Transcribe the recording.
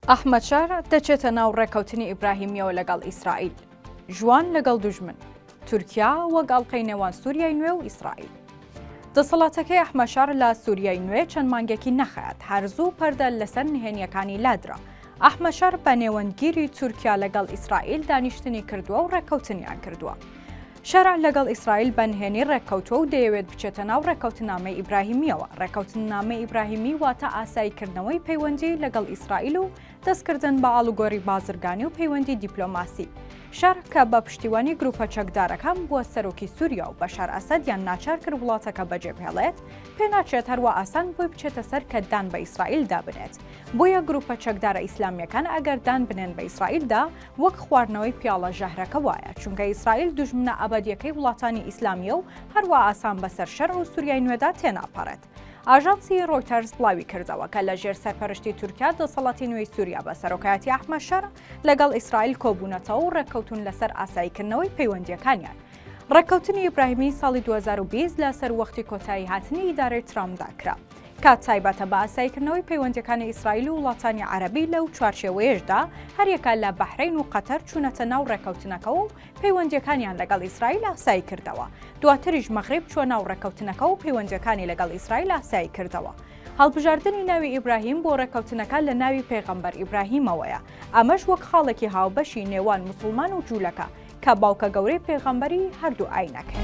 ئەحمەد شەرع دەچێتە ناو ڕێکەوتنی ئیبراهیمییەوە لەگەڵ ئیسرائیل، ژوان لەگەڵ دوژمن، تورکیا وەک ئەڵقەی نێوان سووریای نوێ و ئیسرائیل. دەسەڵاتەکەی ئەحمەد شەرع لە سووریای نوێ چەند مانگێکی نەخایاند، هەر زوو پەردە لەسەر نهێنییەکانی لادرا. ئەحمەد شەرع بە نێوەندگیری تورکیا لەگەڵ ئیسرائیل دانیشتنی کردووە و ڕێککەوتنیان کردووە. شەرع لەگەڵ ئیسرائیل بە نهێنی ڕێککەوتووە و دەیەوێت بچێتە ناو ڕێککەوتننامەی ئیبراهیمییەوە، ڕێککەوتننامەی ئیبراهیمی واتە ئاساییکردنەوەی پەیوەندی لەگەڵ ئیسرائیل و دەستکردن بە ئاڵوگۆری بازرگانی و پەیوەندی دیپلۆماسی. شەرع کە بە پشتیوانی گروپە چەکدارەکان بووە سەرۆکی سوریا و بەشار ئەسەدیان ناچار کرد وڵاتەکە بەجێبهێڵێت، پێناچێت هەروا ئاسان بۆی بچێتە سەر کە دان بە ئیسرائیلدا بنێت، بۆیە گروپە چەکدارە ئیسلامییەکان ئەگەر دان بنێن بە ئیسرائیلدا وەک خواردنەوەی پیاڵە ژەهرەکە وایە، چونکە ئیسرائیل دوژمنە ئەبەدییەکەی وڵاتانی ئیسلامییە و هەروا ئاسان بەسەر شەرع و سوریای نوێدا تێناپەڕێت. ئاژانسی ڕۆیتەرز بڵاویکردەوە، کە لەژێر سەرپەرشتی تورکیا دەسەڵاتی نوێی سوریا بە سەرۆکایەتی ئەحمەد شەرع لەگەڵ ئیسرائیل کۆبوونەتەوە و ڕێککەوتوون لەسەر ئاساییکردنەوەی پەیوەندییەکانیان. ڕێککەوتنی ئیبراهیمی ساڵی دوو هەزار و بیست لە سەروەختی کۆتاییهاتنی ئیدارەی ترامپدا کرا. کات تایبەتە بە ئاساییکردنەوەی پەیوەندییەکانی ئیسرائیل و وڵاتانی عەرەبی، لەو چوارچێوەیەشدا هەریەکە لە بەحرەین و قەتەر چوونەتە ناو ڕێککەوتنەکەوە و پەیوەندییەکانیان لەگەڵ ئیسرائیل ئاسایی کردەوە، دواتریش مەغریب چووە ناو ڕێککەوتنەکە و پەیوەندییەکانی لەگەڵ ئیسرائیل ئاسایی کردەوە. هەڵبژاردنی ناوی ئیبراهیم بۆ ڕێککەوتنەکە لە ناوی پێغەمبەر ئیبراهیمەوەیە، ئەمەش وەک خاڵێکی هاوبەشی نێوان موسڵمان و جوولەکە کە باوکە گەورەی پێغەمبەری هەردوو ئاینەکەیە.